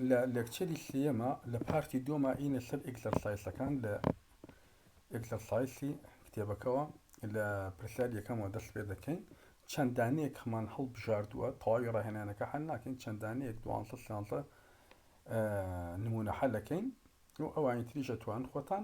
لە لێکچەری سێیەما لە پارتی دووەما ئینە سەر ئێکزەرسایسەکان لە ئێکزەرسایسی کتێبەکەوە لە پرسیار یەکەمەوە دەست پێ دەکەین چەند دانەیەک هەمان هەڵبژاردووە تەواوی ڕاهێنانەکە حل ناکەین چەند دانەیەک دوانسە سیانسە نمونە حلەکەین و ئەوانی تریشە توان خۆتان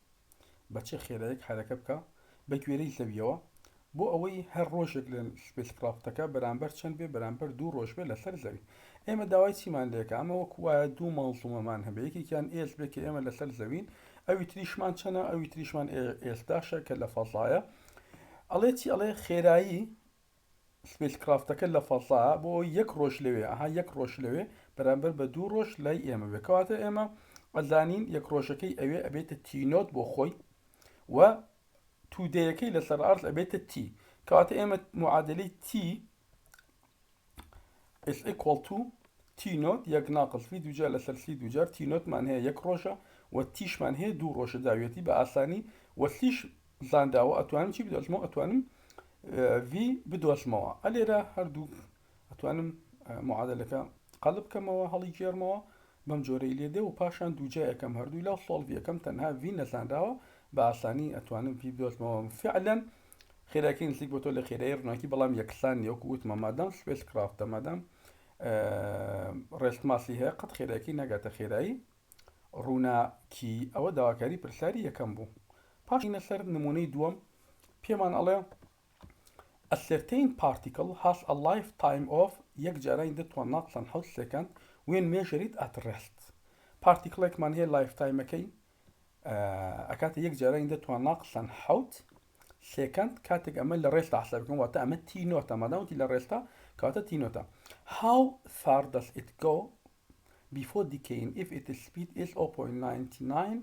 بە چ خێرایەک حەرەکە بکا بە گوێرەی زەویەوە بۆ ئەوەی هەر ڕۆژێک لە سپیس کرافتەکە بەرامبەر چەند بێ بەرامبەر دوو ڕۆژ بێ لەسەر زەوی ئێمە داوای چیمان لێکە ئەمە وەکو وایە دوو مەڵزومەمان هەبێ یەکێکیان ئێس بێ کە ئێمە لەسەر زەوین ئەوی تریشمان چەنە ئەوی تریشمان ئێستاشە کە لە فەزایە ئەڵێ چی ئەڵێ خێرایی سپیس کڕافتەکە لە فەزا بۆ ئەوەی یەک ڕۆژ لەوێ ئەها یەک ڕۆژ لەوێ بەرامبەر بە دوو ڕۆژ لای ئێمە بێ کەواتە ئێمە ئەزانین یەک ڕۆژەکەی ئەوێ ئەبێتە تی نۆت بۆ خۆی و تودەیەکەی لەسەر ئارز ئەبێتە تی کەواتە ئێمە معادلی تی is equal to تی نۆت یەک ناقص سی دوجار لەسەر سی دوجار تی نۆتمان هەیە یەک ڕۆژە و تیشمان هەیە دوو ڕۆژە داویەتی بە ئاسانی و سیش زانراوە ئەتوانم چی بدۆزمەوە ئەتوانم ڤی بدۆزمەوە ئەلێرە هەردوو ئەتوانم معادلەکە قەلب بکەمەوە هەڵی گێرمەوە بەم جۆرەی لێ دێ و پاشان دووجایەکەم هەردوو لا سۆڵڤیەکەم تەنها ڤی نەزانراوە بە ئاسانی ئەتوانم ڤی بدۆزمەوە فعلەن خێراکی نزیک بۆ تۆ لە خێرای ڕووناکی بەڵام یەکسان نیوەکو وتمە مادام سپێس کرافتە مادام ڕێست ماسی هەیە قەت خێراکی ناگاتە خێرایی ڕووناکی، ئەوە داواکاری پرسیاری یەکەم بوو. پاش چوونە سەر نموونەی دووەم، پێمان ئەڵێ، A certain particle has a life time of یەک جارانی دە توانناڵ چەند حەوت سێکەند when measured at rest پارتیکڵێکمان هەیە لایف تایمەکەی ئەکاتە یەک جارانی دە توانناڵ چەند حەوت سێکەند کاتێک ئەمە لە ڕێستا حساب بکەم واتە ئەمە تی نۆتە مادامەتی لە ڕێستا کاتە تی نۆتە How far does it go before decaying if it is speed is 0.99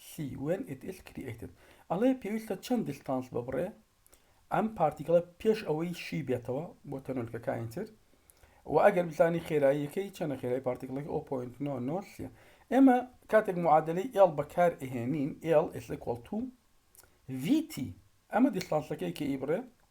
c when it is created ئەڵێ پێویستە چەند دیستانس ببڕێ ئەم پارتیکڵە پێش ئەوەی شی بێتەوە بۆ تەنۆلکەکانی تر و ئەگەر بزانی خێراییەکەی چەنە خێرای پارتیکڵەکە 0.9 ئێمە کاتێک معادلەی ئێڵ بەکار ئەهێنین ئێڵ ئێسکۆڵ تو VT ئەمە دیستانسەکەی کە ئیبڕێ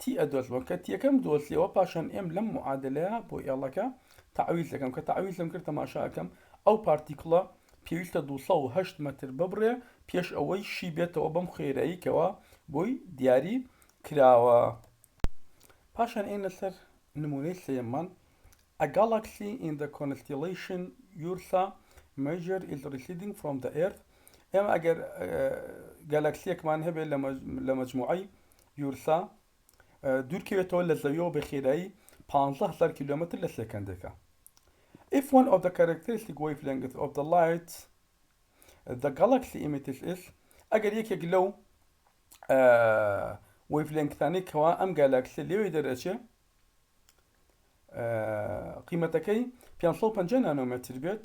تی ئەدۆزمەوە کە تیەکەم دۆزیەوە پاشان ئێم لەم معادلەیە بۆ ئێڵەکە تەعویز دەکەم کە تەعویزم کرد تەماشا ئەکەم ئەو پارتیکڵە پێویستە دوو سەد و هەشت مەتر ببڕێ پێش ئەوەی شی بێتەوە بەم خوێرایی کەوا بۆی دیاری کراوە پاشان ئێنە سەر نمونەی سێمان A galaxy in the constellation Ursa major is receding from the earth ئێمە ئەگەر گەلەکسیەکمان هەبێت لە مەجموعی یورسا، دوورکەوێتەوە لە زەویەوە بە خێرایی پانزە هەزار کیلۆمەتر لە سێکەندێکە. If one of the characteristic wavelengths of the light the galaxy emits is ئەگەر یەکێک لەو وەیڤلێنگتانەی کەوا ئەم گالاکسە لێوەی دەرەچێ قیمەتەکەی 550 نانۆمەتر بێت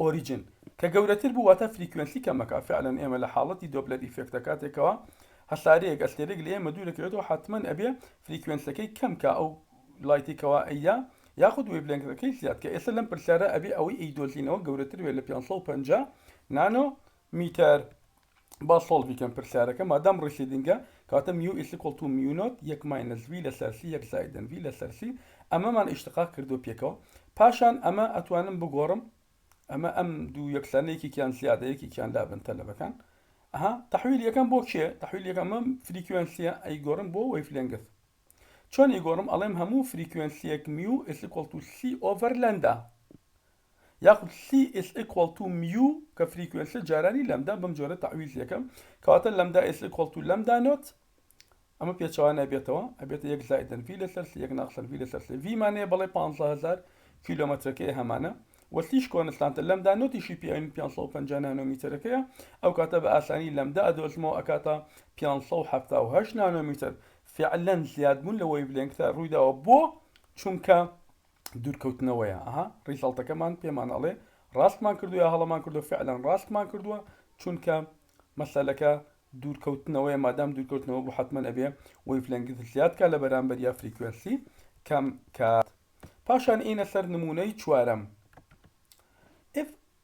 ئۆریجن کە گەورەتر بوو واتە فریکوێنسی کەمەکە فعلەن ئێمە لە حاڵەتی دۆپلەر ئیفێکتە کاتێکەوە هەسارەیەک ئەستێرەیەک لە ئێمە دوورەکەوێتەوە حەتمەن ئەبێ فریکوێنسەکەی کەم کا ئەو لایتی کەوا ئەیدا یاخود ویڤلێنگثەکەی زیاد کا ئێستا لەم پرسیارە ئەبێ ئەوەی ئەیدۆزینەوە گەورەتر بێت لە 550 نانۆ میتەر با سۆڵڤی کەم پرسیارەکە مادام ڕیسیدینگە کاتە میو ئیسیکۆڵ تو میو نۆت یەک ماینەس وی لەسەر سی یەک زایدن وی لەسەر سی ئەمەمان ئیشتقاق کردوە پێکەوە پاشان ئەمە ئەتوانم بگۆڕم ئەمە ئەم دوو یەکسانە یەکێکیان زیادە یەکێکیان لابن تەلەبەکان ئەها تەحویل یەکەم بۆ کێ تەحویل یەکەم ئەم فریکوێنسیە ئەیگۆڕم بۆ وەیفلێنگس چۆن ئیگۆڕم ئەڵێم هەموو فریکوێنسیەک میو ئیسیکۆڵ تو سی ئۆڤەر لەندا یاخود سی ئیس ئیکوەڵ تو میو کە فریکوێنسیە جارانی لەمدا بەم جۆرە تەعویزی ئەکەم کەواتە لەمدا ئیس ئیکوەڵ تو لەمدا نۆت ئەمە پێچەوانە ئەبێتەوە ئەبێتە یەک زائیدەن ڤی لەسەر سی یەک ناقسەن ڤی لەسەر سی ڤی مان هەیە بەڵێ پانزە هەزار کیلۆمەترەکەی هەمانە و سیش کۆنستانتە لەمدا نۆتیشی پێ ئەوین پێنج سەد و پەنجا نانۆمیتەرەکەیە ئەو کاتە بە ئاسانی لەمدا ئەدۆزمەوە ئەکاتە پێنج سەد و حەفتا و هەشت نانۆمیتەر فیعلەن زیادبوون لە وەیڤلێنگثە ڕوویداوە بۆ چونکە دوورکەوتنەوەیە ئەها ڕیزەڵتەکەمان پێمان ئەڵێ ڕاستمان کردو یا هەڵەمان کردو فعلەن ڕاستمان کردووە چونکە مەسەلەکە دوورکەوتنەوەی مادام دوورکەوتنەوە بۆ حتممە ئەبێ وەیفلەنگز زیادکە لە بەرامبەر یا فریکوێنسی کەم کات پاشان ئینە سەر نمونەی چوارەم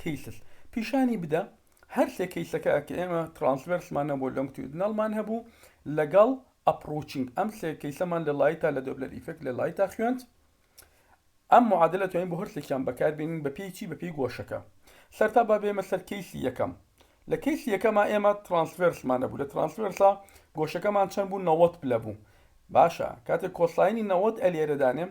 کەیسس پیشانی بدە هەرسێ کەیسەکە کە ئێمە ترانسڤێرسمان نەبوو لۆنگتیودنەڵمان هەبوو لەگەڵ ئەپڕوچینگ ئەم سێ کەیسەمان لە لایتا لە دۆپلەر ئیفێکت لە لایتا خوێند ئەم معادلە توانین بۆ هەرسێکیان بەکاربێنین بە پێی چی بە پێی گۆشەکە سەرتا با بێمە سەر کەیسی یەکەم لە کەیسی یەکەمە ئێمە ترانسڤێرسمان نەبوو لە ترانسڤێرسا گۆشەکەمان چەند بوو نەوەت پلە بوو باشە کاتێک کۆساینی نەوەت ئەلێرە دانێم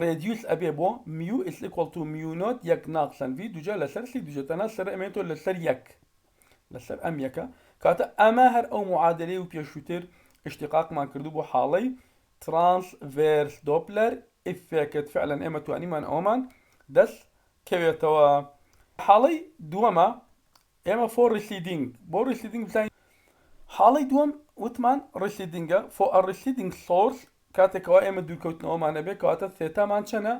ڕێدیوس ئەبێ بۆ، mu is equal to mu نۆت یەک ناقسەن ڤی دووجا لەسەر سی دووجا تەنها سەرە ئەمێنێتەوە لەسەر یەک لەسەر ئەم یەکە کاتە ئەمە هەر ئەو معادەلەی و پێشووتر ئیشتیقاقمان کردوو بۆ حاڵەی ترانس ڤێرس دۆپلەر ئیفێکت فعلەن ئێمە توانیمان ئەوەمان دەست کەوێتەوە حاڵەی دووەمە ئێمە فۆر ڕیسیدینگ بۆ ڕیسیدینگ بزانین حاڵەی دووەم وتمان ڕیسیدینگە فۆ ئە ڕیسیدینگ سۆرس کاتێک کەوا ئێمە دوورکەوتنەوەمان هەبێت کەواتە ثێتامان چەنە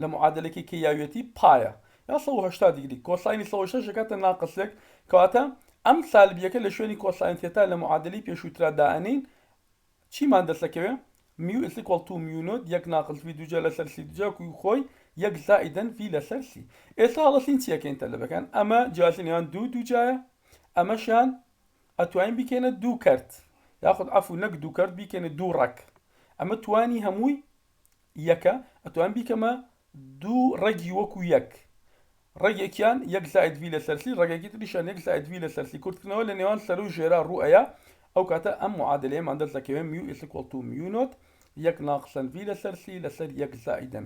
لە معادەلەکەی کێیاویەتی پایە یا 180 دیگری کۆساینی 180 دەکاتە ناقس 1 کەواتە ئەم سالبیەکە لە شوێنی کۆساین ثێتا لە معادەلەی پێشووترا دائەنێین چیمان دەسەکەوێ میو ئیس ئیکوەڵ تو میو نۆت یەک ناقس ڤی دووجا لەسەر سی دوجا کوی خۆی یەک زائیدەن ڤی لەسەر سی ئێستا هەڵەسین چیەکەین تەلەبەکان ئەمە جیاتی نێوان دوو دووجایە ئەمەشیان ئەتوانین بیکەینە دوو کەرت یاخود عەفو نەک دوو کەرت بیکەینە دوو ڕەگ ئەمە توانی هەمووی یەکە ئەتوانم بیکەمە دوو ڕەگی وەکو یەک ڕەگێکیان یەک زائد ڤی لەسەر سی ڕەگێکی تریشیان یەک زائد ڤی لەسەر سی کورتکردنەوە لە نێوان سەرە و ژێرا ڕوو ئەیا ئەو کاتە ئەم معادلەیەمان دەست دەکەوێت میو ئیسیکوڵ تو میو نۆت یەک ناقسەن ڤی لەسەر سی لەسەر یەک زائیدەن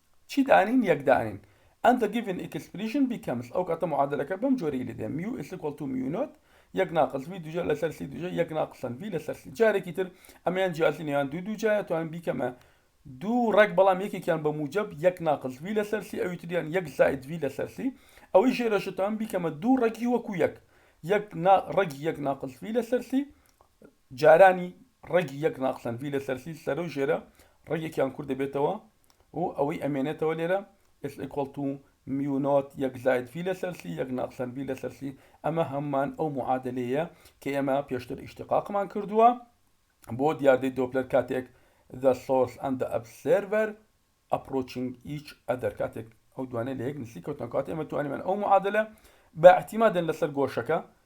چی دانین یەک دانین and the given expression becomes ئەو کاتە معادەلەکە بەم جۆرەی لێ دێ mu is equal to mu not یەک ناقس ڤی دووجا لەسەر سی دووجا یەک ناقسەن ڤی لەسەر سی جارێکی تر ئەمەیان جیاتی نێوان دوو دووجایە توانم بیکەمە دوو ڕێک بەڵام یەکێکیان بە موجب یەک ناقس ڤی لەسەر سی ئەوی تریان یەک زائد ڤی لەسەر سی ئەوەی ژێرەشە توانم بیکەمە دوو ڕێکی وەکو یەک یەک ڕێکی یەک ناقس ڤی لەسەر سی جارانی ڕێکی یەک ناقسەن ڤی لەسەر سی سەرە و ژێرە ڕێکێکیان کورد دەبێتەوە و ئەوەی ئەمێنێتەوە لێرە is equal to میو نۆت یەک زائد ڤی لەسەر سی یەک ناقسەن ڤی لەسەر سی ئەمە هەممان ئەو معادلەیە کە ئێمە پێشتر ئیشتقاقمان کردووە بۆ دیاردەی دۆپلەر کاتێک the source and the observer approaching each other کاتێک ئەو دوانێ لە یەک نزیک کەوتن کات ئێمە توانیمان ئەو معادلە بە اعتیمادن لەسەر گۆشەکە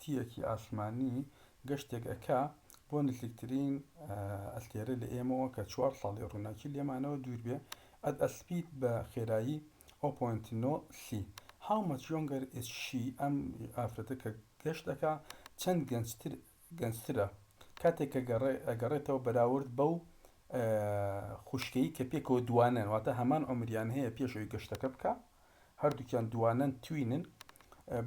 تیەکی ئاسمانی گەشتێک ئەکا بۆ نزیکترین ئەستێرە لە ئێمەوە کە چوار ساڵی ڕووناکی لێمانەوە دوور بێ ئەت ئەسپیت بە خێرایی ئەو پۆینت نۆ سی هاو مەچ یۆنگەر ئیز شی ئەم ئافرەتە کە گەشت ئەکا چەند گەنجتر گەنجترە کاتێک کە گەڕێ ئەگەڕێتەوە بەراورد بەو خوشکەی کە پێکەوە دوانەن واتە هەمان عومریان هەیە پێش ئەوی گەشتەکە بکا. هەردووکیان دووانەن توینن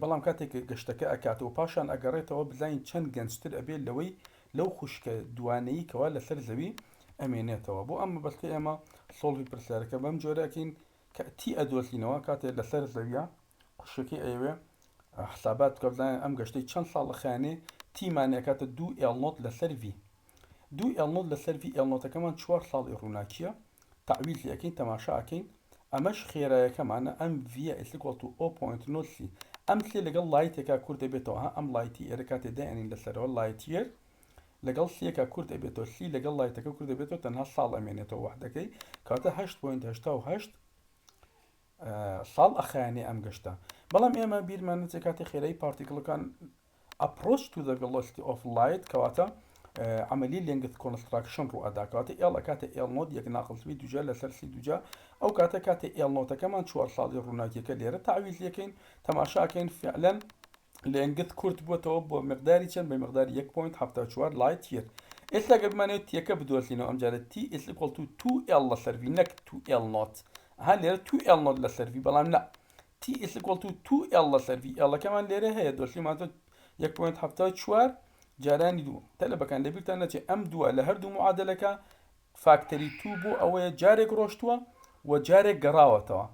بەڵام کاتێک گەشتەکە ئەکاتەوە پاشان ئەگەڕێتەوە بزانین چەند گەنجتر ئەبێت لەوەی لەو خوشکە دووانەیی کەوا لەسەر زەوی ئەمێنێتەوە بۆ ئەم مەبەستەی ئێمە سۆڵڤی پرسیارەکە بەم جۆرە ئەکەین کە تی ئەدۆزینەوە کاتێ لەسەر زەویە خوشکەکەی ئەیەوێ حسابات بکە بزانین ئەم گەشتەی چەند ساڵ ئەخایەنێ تیمانێ ئەکاتە دوو ئێڵنۆت لەسەر ڤی دوو ئێڵنۆت لەسەر ڤی ئێڵنۆتەکەمان چوار ساڵی ڕووناکییە تەعویزی ئەکەین تەماشا ئەکەین ئەمەش خێرایەکەمانە ئەم ڤیە ئیسیکۆڵ تو ئۆ پۆینت نۆت سی ئەم سێ لەگەڵ لایتێکا کورت دەبێتەوە ها ئەم لایتی ئێرە کاتێ دایئەنین لەسەرەوە لایت یێر لەگەڵ سێکا کورت ئەبێتەوە سی لەگەڵ لایتەکە کورت دەبێتەوە تەنها ساڵ ئەمێنێتەوە وەحدەکەی کەواتە هەشت پۆینت هەشتا و هەشت ساڵ ئەخایەنێ ئەم گەشتە بەڵام ئێمە بیرمان نەچێ کاتی خێرای پارتیکڵەکان Approach to the velocity of light کەواتە عەمەلی لێنگث کۆنستراکشن ڕوئەدا کەواتە ئێڵ ئەکاتە ئێڵ نۆت یەک ناقس ڤی دووجا لەسەر سی دووجا ئەو کاتە کاتێ ئێڵ نۆتەکەمان چوار ساڵی ڕووناکیەکە لێرە تەعویز لێکەین تەماشا ئەکەین فعلەن لێنگث کورت بووەتەوە بۆ مقداری چەند بە مقداری یەک پۆینت حەفتا و چوار لایت یەر ئێستا گەر بمانەوێت تیەکە بدۆزینەوە ئەمجارە تی ئیس ئیکوەڵ تو تو ئێڵ لەسەر ڤی نەک تو ئێڵ نۆت ها لێرە تو ئێڵ نۆت لەسەر ڤی بەڵام نا ئێڵەکەمان لێرە هەیە، دۆشلی ماددە، جارانی دووەم، تەلەبەکان لەبیرتان نەچێت ئەم دووە لە هەردوو معادلەکە فاکتەری توو بوو ئەوەیە جارێک ڕۆشتووە و جارێک گەڕاوەتەوە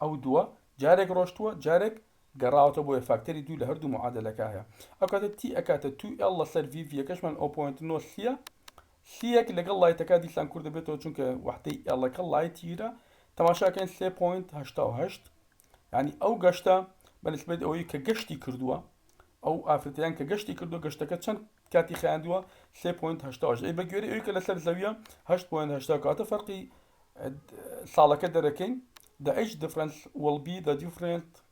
ئەو دووە جارێک ڕۆشتووە جارێک گەڕاوەتە بۆیە فاکتەری دوو لە هەردوو معادلەکە هەیە ئەو کاتە تی ئەکاتە توو ئێڵ لەسەر یەکەشمان ئەو پۆنتۆسیە سییەک لەگەڵ لایتەکە دیسان کورت دەبێتەوە چونکە وەحدەی ئێڵەکە لایتیرە، تەماشاکەن سێ پۆینت هەشتا و هەشت، یانی ئەو گەشتە بە نسبەت ئەوەی کە گەشتی کردووە ئەو ئافرەتیان کە گەشتی کردو گەشتەکە چەند کاتی خیاندووە 3.8 ئەی بە گوێری ئەوی کە لەسەر زەویە 8.8 کاتە فەرقی ساڵەکە دەرەکەین the age difference will be the different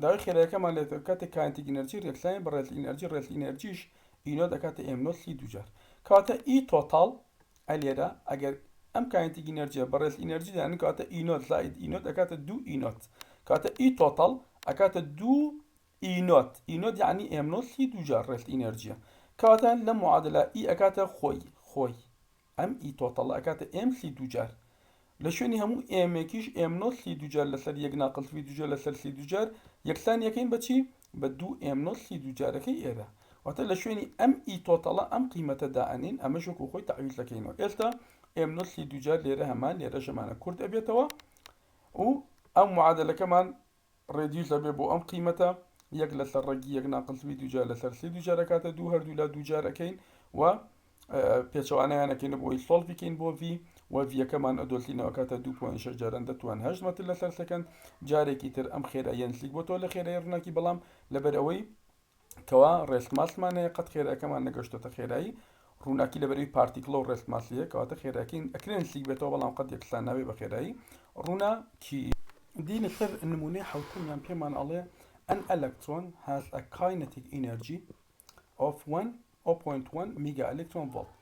داوای خێرایەکەمان لێت ئەکاتە کاینتیک ئینەرجی رێکلایەن بە رێتل ئینەرجی رێتل ئینەرجیش ئی نۆت ئەکاتە ئێم نۆت لی دووجار کەواتە ئی تۆتاڵ ئە لێرە ئەگەر ئەم کاینتیک ئینەرجیە بە رێتل ئینەرجی دانێن کەواتە ئی نۆت زائید ئی نۆت ئەکاتە دوو ئی نۆت کەواتە ئی تۆتاڵ ئەکاتە دوو ئی نۆت ئی نۆت یعنی ئێم نۆت لی دووجار رێتل ئینەرجیە کەواتە لەم معادلە ئی ئەکاتە خۆی خۆی ئەم ی تۆتەڵە ئەکاتە ئێم سی دووجار لە شوێنی هەموو ئێمێکیش ئێم نۆت سی دووجار لەسەر یەک ناقل سی دووجار لەسەر سی دووجار یەکسانی ئەکەین بە چی؟ بە دوو ئێم نۆت سی دووجارەکەی ئێرە واتە لە شوێنی ئەم ی تۆتەڵە ئەم قیمەتە دائەنێین ئەمەش وەکو خۆی تەعویز دەکەینەوە ئێستا ئێم نۆت سی دووجار لێرە هەمان لێرەش هەمانە کورت ئەبێتەوە و ئەو معادەلەکەمان ڕێدیوس ئەبێ بۆ ئەم قیمەتە یەک لەسەر ڕەگی یەک ناقلتوی دووجار لەسەر سێ دووجار ئەکاتە دوو هەردوولا دووجار ئەکەین و پێچەوانیان ئەکەینە بۆی سۆڵ بکەین بۆ ڤی و ڤیەکەمان ئەدۆسینەوە کاتە دوو پوین شش جاران دەتوان هەشت مەتر لەسەر سەکەند جارێکی تر ئەم خێرا یەنسلیک بۆ تۆ لە خێرای ڕووناکی بەڵام لەبەر ئەوەی کوا ڕێست ماسمان هەیە قەت خێرەکەمان نەگەشتۆتە خێرایی ڕووناکی لە بەرەوی پارتیکڵە و ڕێست ماسیە کەواتە خێراکین ئەکرێن سیک بێتەوە بەڵام قەت یەکسان ناوێ بە خێرایی ڕووناکی دینە سەر نمونەی حوتمیان پێمان ئەڵێ ئەن ئەلەکترۆن هاز ئە کاینەتیک ئینەرجی ئۆف وەن ئۆ پۆینت وەن میگا ئەلکترۆن ڤۆڵت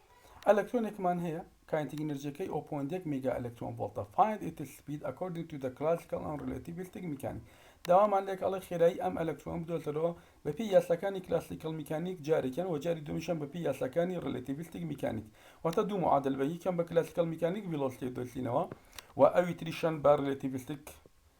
ئەلکترۆنێکمان هەیە کاینتیک ئینرجیەکەی ئۆ پۆینت یەک میگا ئەلکترۆن ڤۆڵتە فایند ئیت سپید ئەکۆردینگ تو دە کلاسیکەڵ ئەن ڕیلەتیڤیستیک میکانیک داوامان لێکە ئەڵێ خێرایی ئەم ئەلکترۆنە بدۆزەرەوە بەپێی یاساکانی کلاسیکەڵ میکانیک جارێکیان وە جاری دووەمیشیان بەپێی یاساکانی ڕیلەتیڤیستیک میکانیک واتە دوو معادل بە یەکیان بە کلاسیکەڵ میکانیک ڤیلۆسیتێ دۆزینەوە وە ئەوی تریشیان بە ڕیلەتیڤیستیک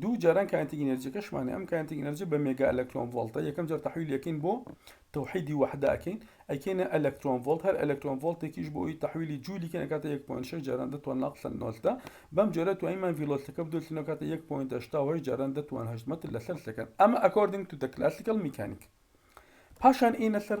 دوو جاران کاینتیک ئینەرجیەکەشمانێ ئەم کاینتیک ئینەرجی بە مێگا ئەلەکترۆن ڤۆڵتە یەکەم جار تەحویل یەکەین بۆ تەوحیدی وەحدە ئەکەین ئەکەینە ئەلەکترۆن ڤۆڵت هەر ئەلەکترۆن ڤۆڵتێکیش بۆ ئەوی تەحویلی جوولی کەن ئەکاتە 1.6 جاران دەتوان ناقلن نۆلتە بەم جۆرە توانیمان ڤیلۆلتەکە بدۆلتینەوە کاتە 1.8 جاران دەتوان هەشت مەتر لەسەر سەکەن ئەمە ئەکۆردینگ تو دە کلاسیکەڵ میکانیک پاشان ئینە سەر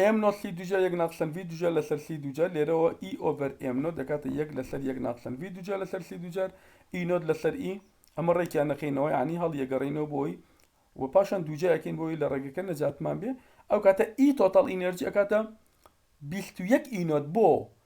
ئێم نۆت سی دووجا یەک ناقسەن ڤی دووجا لەسەر سی دووجار لێرەوە ئی ئۆڤەر ئێم نۆت دەکاتە یەک لەسەر یەک ناقسەن ڤی دووجا لەسەر سی دووجار ئی نۆت لەسەر ئی ئەمە ڕێکیان نەخەینەوە یانی هەڵیەگەڕینەوە بۆی و پاشان دووجا یەکەین بۆی لە ڕێگەکە نەجاتمان بێ ئەو کاتە ئی تۆتەڵ ئینێرجی ئەکاتە بیست و یەک ئی نۆت بۆ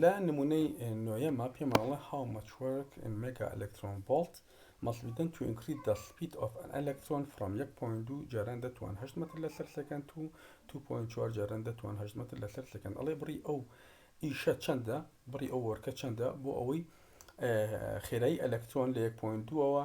لە نموونەی نۆیەمە پێمان ئەڵێ هاو مەچ وەرک ئین مێگا ئەلەکترۆن ڤۆڵت مەست بی دەن تو ئینکریز دە سپید ئۆف ئەن ئەلەکترۆن فرۆم یەک پۆینت دوو جاران دەتوان هەشت مەتر لەسەر سێکەند تو تو پۆینت چوار جاران دەتوان هەشت مەتر لەسەر سێکەند ئەڵێ بڕی ئەو ئیشە چەندە بڕی ئەو وەرکە چەندە بۆ ئەوەی خێرایی ئەلەکترۆن لە یەک پۆینت دووەوە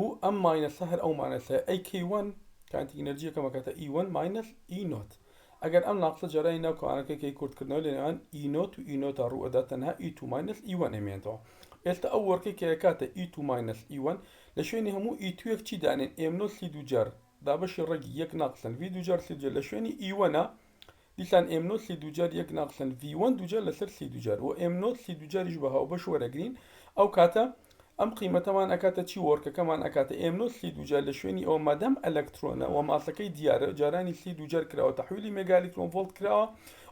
و ئەم ماینەسە هەر ئەو ماینەسەیە ئەی کەی وەن کانتی ئینەرجی یەکەم ئەکاتە ئی وەن ماینەس ئی نۆت ئەگەر ئەم ناقسە جەرانی ناو کەوانەکە کەی کورتکردنەوە لەنێوان ئی نۆت و ئی نۆتە ڕوو ئەدات تەنها ئی تو ماینەس ئی وەن ئەمێنێتەوە ئێستا ئەو وەرکەی کە ئەکاتە ئی تو ماینەس ئی وەن لە شوێنی هەموو ئی تویەک چی دانێن ئێم نۆت سی دووجار دابەشی ڕەگی یەک ناقسەن ڤی دووجار سی دووجار لە شوێنی ئی وەنە دیسان ئێم نۆت سی دووجار یەک ناقسەن ڤی وەن دووجار لەسەر سی دووجار و ئێم نۆت سی دووجاریش بە هاوبەش وەرەگرین ئەو کاتە ئەم قیمەتەمان ئەکاتە چی وۆرکەکەمان ئەکاتە ئێم نۆت سی دووجار لە شوێنی ئەوە مادام ئەلەکترۆنە وە ماسەکەی دیارە جارانی سی دووجار کراوە تەحویلی مێگا ئەلیکترۆن ڤۆڵت کراوە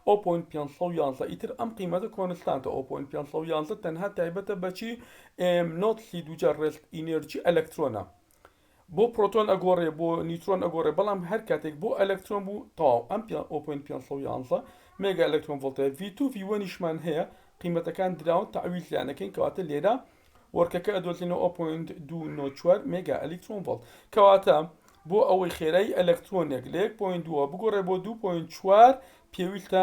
ئەو پۆینت پێنج سەد و یازدە ئیتر ئەم قیمەتە کۆنستانتە ئەو پۆینت پێنج سەد و یازدە تەنها تایبەتە بە چی ئێم نۆت سی دووجار ڕێست ئینێرجی ئەلەکترۆنە بۆ پرۆتۆن ئەگۆڕێ بۆ نیوترۆن ئەگۆڕێ بەڵام هەر کاتێک بۆ ئەلەکترۆن بوو تەواو ئەم 5.511 مێگا ئەلەکترۆن ڤۆڵتە V2 V1 یشمان هەیە قیمەتەکان دراون تەعویل تیان ئەکەین کەواتە لێرە وەرکەکە ئەدۆزینەوە 0.294 مێگا ئەلەکترۆن ڤۆڵت کەواتە بۆ ئەوەی خێرای ئەلەکترۆنێک لە 1.2 بگۆڕێ بۆ 2.4 پێویستە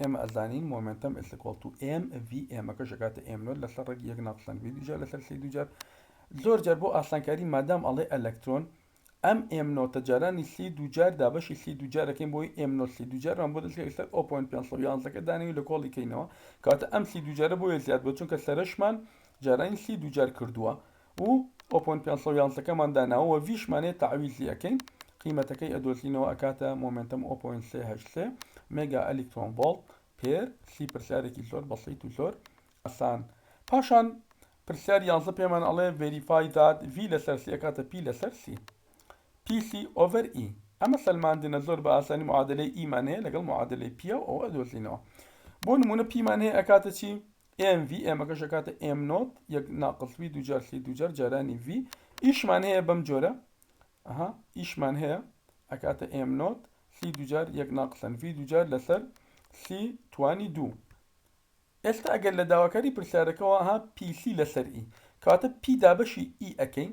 ئێمە ئەزانین مۆمێنتەم ئیسکۆڵ تو ئێم ڤی ئێمەکەش ئەکاتە ئێم نۆت لەسەر ڕەگی یەک ناقسەن ڤی دووجار لەسەر سی دووجار زۆر جار بۆ ئاسانکاری مادام ئەڵێ ئەلەکترۆن ئەم ئێم نۆتە جارانی سی دووجار دابەشی سی دووجار دەکەین بۆی ئێم نۆت سی دووجارمان بۆ دەستکەوێت لەسەر ئەو پۆینت پێنج سەد و یازدە کە دانەوێت لە کۆڵی کەینەوە کەواتە ئەم سی دووجارە بۆیە زیاد بووە چونکە سەرەشمان جارانی سی دووجار کردووە و ئۆپۆن پێنج سەد و یازدە کەمان داناوە وە ڤی شمانەیە تەعویزی ئەکەین قیمەتەکەی ئەدۆزینەوە ئەکاتە مۆمێنتەم ئۆ پۆینت سێ هەشت سێ مێگا ئەلیکترۆن ڤۆڵت پێر سی پرسیارێکی زۆر بەسیت و زۆر ئەسان پاشان پرسیار یازدە پێمان ئەڵێ ڤێریفای دات ڤی لەسەر سی ئەکاتە پی لەسەر سی پی سی ئۆڤەر ئی ئەمە سەلماندنە زۆر بە ئاسانی معادلەی ئیمان هەیە لەگەڵ معادلەی پییە و ئەوە ئەدۆزینەوە بۆ نمونە پیمان هەیە ئەکاتە چی ئێم ڤی ئێمەکەش ئەکاتە ئێم نۆت یەک ناقڵ ڤی دووجار سی دووجار جارانی ڤی ئیشمان هەیە بەم جۆرە ئەها ئیشمان هەیە ئەکاتە ئێم نۆت سی دووجار یەک ناقسەن ڤی دووجار لەسەر سی توانی دوو ئێستا ئەگەر لە داواکاری پرسیارەکەەوە ها پیسی لەسەر ئی کاتە پی دابەشی ئی ئەەکەین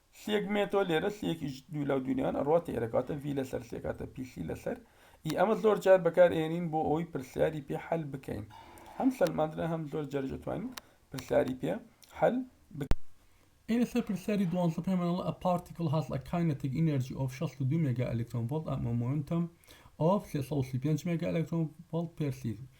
سیەک مێتۆ لێرە سیەکیش دوو لاو دوو نیان ئەڕوات ی ئەرەکاتە ڤی لەسەر سێ کاتە پی سی لەسەر ی ئەمە زۆر جار بەکار ئێنین بۆ ئەوەی پرسیاری پێ حەل بکەین هەم سەلماندنە هەم زۆر جاریش ئەتوانین پرسیاری پێ حەل بکەین لەسەر پرسیاری دوانزە پێمان ئەڵێ a particle has a kinetic energy of 62 مێگا ئەلکترۆن ڤۆڵت and a momentum of 335 مێگا ئەلکترۆن ڤۆڵت پێر سیکۆند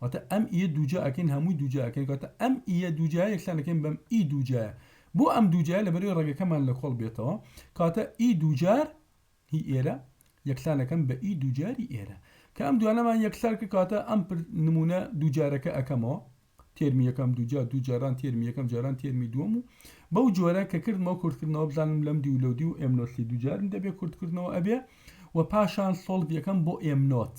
واتە ئەم ی دووجا ئەکەین هەمووی دووجا ئەکەین کەواتە ئەم ی دووجا یەکسان ئەکەین بەم ی دووجایە بۆ ئەم دووجایە لەبەرەوەی ڕەگەکەمان لە کۆڵ بێتەوە کەواتە ی دووجار هی ئێرە یەکسان ئەکەم بە ی دووجاری ئێرە کە ئەم دوانەمان یەکسان کرد کەواتە ئەم نمونە دووجارەکە ئەکەمەوە تێرمی یەکەم دووجا دووجاران تێرمی یەکەم جاران تێرمی دووەم و بەو جۆرە کە کردمەوە کورتکردنەوە بزانم لەم دی و لەو دی و ئێم نۆسی دووجارم دەبێ کورتکردنەوە ئەبێ و پاشان سۆڵڤ یەکەم بۆ ئێم نۆت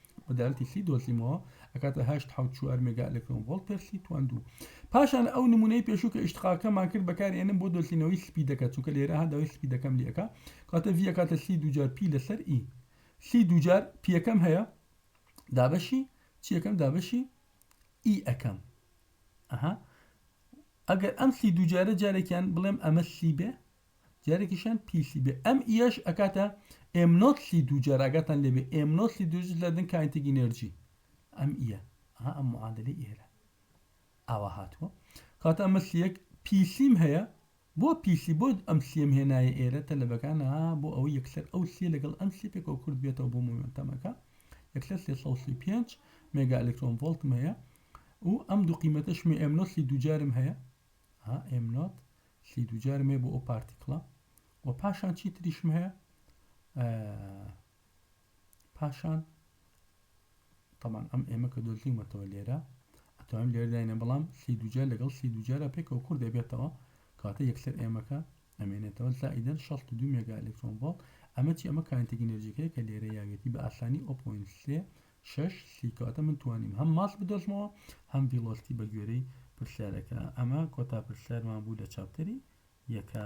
مەدارتی سی دۆزیمەوە ئەکاتە هەشت حەوت چوار مێگا ئەلکترۆن ڤۆڵت پێر سی تواندوو پاشان ئەو نمونەی پێشوو کە ئیشتقاکەمان کرد بەکارێنم بۆ دۆزینەوەی سپیدەکە چونکە لێرە هەداوی سپیدەکەم لەکە کاتە ڤە کاتە سی دوجار پی لەسەر ئی سی دوجار پیەکەم هەیە دابەشی چیەکەم دابەشی ئی ئەەکەم ئەها ئەگەر ئەم سی دوجارە جارێکیان بڵێم ئەمە سی بێ دیارەکیشیان پیسی بێ ئەم ئیەش ئەکاتە ئێم نۆت سی دووجار ئاگاتان لێبێ ئێم نۆت سی دووجار لە دن کاینتێکی نێرجی ئەم ئیە ها ئەم معادلەی ئێرە ئاوا هاتووە کاتە ئەمە سیەک پیسیم هەیە بۆ پیسی بۆ ئەم سیم هێنایە ئێرە تەلەبەکان ها بۆ ئەوە یەکسەر ئەو سیە لەگەڵ ئەم سی پێکەوە کورد بێتەوە بۆ مومنتەمەکە یەکسەر 335 مێگا ئەلکترۆن ڤۆلتم هەیە و ئەم دوو قیمەتەشمی ئێم نۆت سی دووجارم هەیە ها ئێم نۆت چی دووجارم هەیە بۆ ئەو پارتیکڵە و پاشان چی تریشم هەیە پاشان طبعا ئەم ئێمە کە دۆزیمەتەوە لێرە ئەتوانم لێرداینە بەڵام سی دوجار لەگەڵ سی دوجارە پێکەوە کورد دەبێتەوە کاتە یەکسەر ئێمەکە ئەمێنێتەوە زائیدەن 62 مێگا ئەلکترۆن ڤۆڵت ئەمە چی ئەمە کانتێک ئینرژیەکەی کە لێرە یاوێتی بە ئاسانی 0.3 شەش سی کەواتە من توانیم هەم ماست بدۆزمەوە هەم ڤیڵۆستی بە گوێرەی پرسیارەکە ئەمە کۆتا پرسیارمان بوو لە چاپتەری یەکە.